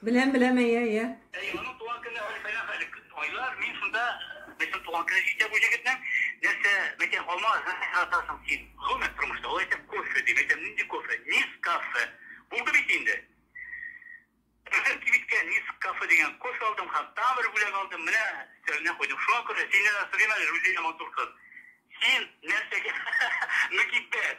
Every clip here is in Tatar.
Беләм, беләм, әйе, әйе. Әйе, аның туган көне Альфәйнә хәлек. Айлар, мин шунда безнең туган көне җитә бу җегетнең. Нәрсә, мәйтәм, алма яратасың син. Гомумән тормышта, ул әйтә, кофе ди. Мәйтәм, нинди кофе? Нескафе. Булды бит инде. Үзем кибеткә Нескафе дигән кофе алдым һәм тагын бер бүләк алдым, менә өстәленә куйдым. Шуңа күрә синнән дә сорыйм әле, Рузилә матур кыз. Син нәрсәгә мөкиббәт?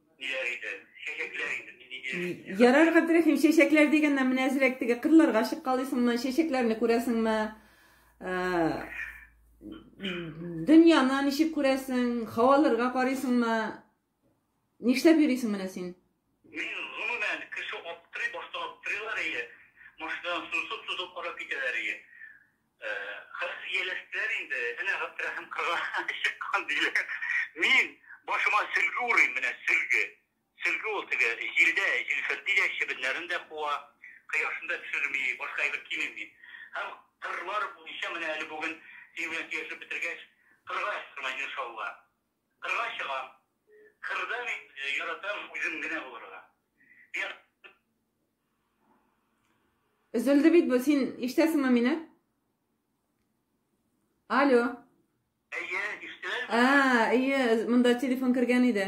Ниләр иде? Чәчәкләр иде. Мин нигә яшәдем? Ярар, Габдрәхим, чәчәкләр дигәннән менә әзрәк теге кырларга чыккалыйсыңмы, чәчәкләрне күрәсеңме? Ә, Дөньяны ничек күрәсең, һаваларга карыйсыңмы? Нишләп йөрисең менә син? Мин гомумән кеше аптырый, башта аптырыйлар ие, машинадан сузып-сузып карап китәләр ие. Кыз ияләштеләр инде, әнә Габдрәхим кырга чыккан, диләр. Мин башыма сөлге урыйм, менә сөлге. Сөлге ул теге җилдә җилферди дә, чебеннәрен дә куа, кояшын да төшерми, башка әйбер кимим мин. Һәм кырлар буенча менә әле бүген синең белән сөйләшеп бетергәч, кырга чыгармын, иншалла. Кырга чыгам. Кырда мин яратам үзем генә булырга. Миңа Өзелде бит бу, син ишетәсеңме мине? Алло. Әйе, ишетәм. А, әйе, монда телефон кергән иде.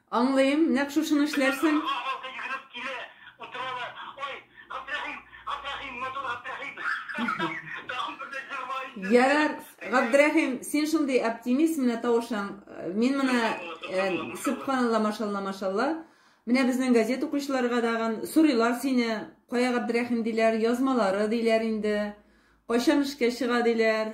Аңлыйм, нәкъ шушыны эшләрсең. Кызлар халкы йөгереп килә, утыралар. Ой, Габдрәхим, Габдрәхим, матур Габдрәхим! Тагын бер дә җырлар инде. Ярар, Габдрәхим, син шундый оптимист, менә тавышың. Мин менә, сөбханалла, машалла, машалла. Менә безнең газета укучыларга тагын сорыйлар сине, кая Габдрәхим диләр, язмалары диләр инде, кайчан эшкә чыга диләр.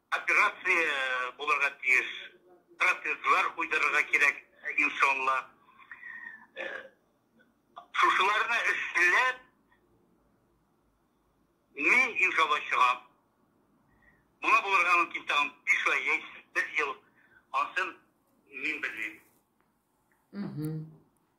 Операция булырга тиеш, протезлар куйдырырга кирәк, иншалла. Шушыларны эшләп, мин, иншалла, чыгам. Моңа булырга мөмкин тагын биш ай яисә бер ел, ансын мин белмим.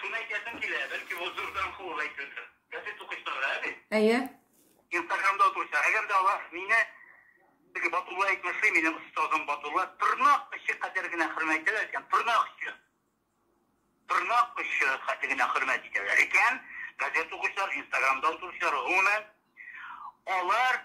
Шуны әйтәсем килә, бәлки бу зурдан ху ул әйтүдер. Газет укучыларга, әби? Әйе. Инстаграмда утыручылар, әгәр дә алар мине, теге Батулла әйтмешли, минем остазым Батулла, тырнак очы кадәр генә хөрмәт итәләр икән, тырнак очы, тырнак очы кадәр генә хөрмәт итәләр икән, газет укучылар, инстаграмда утыручылар, гомумән, алар,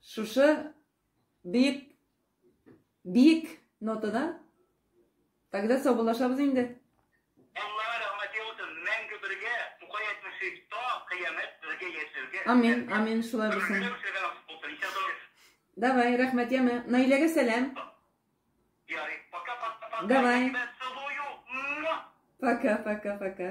Шушы бик бик нотада тогда саубуллашабыз инде. Аллаһы рәхмәт яусын, мәңге бергә, Тукай әйтмешек, та кыямәт бергә яшәргә. Амин, амин, шулай булсын. Давай, рәхмәт, яме. Наиләгә сәлам. Ярый, пока, пока, пока. Давай. Пока, пока, пока.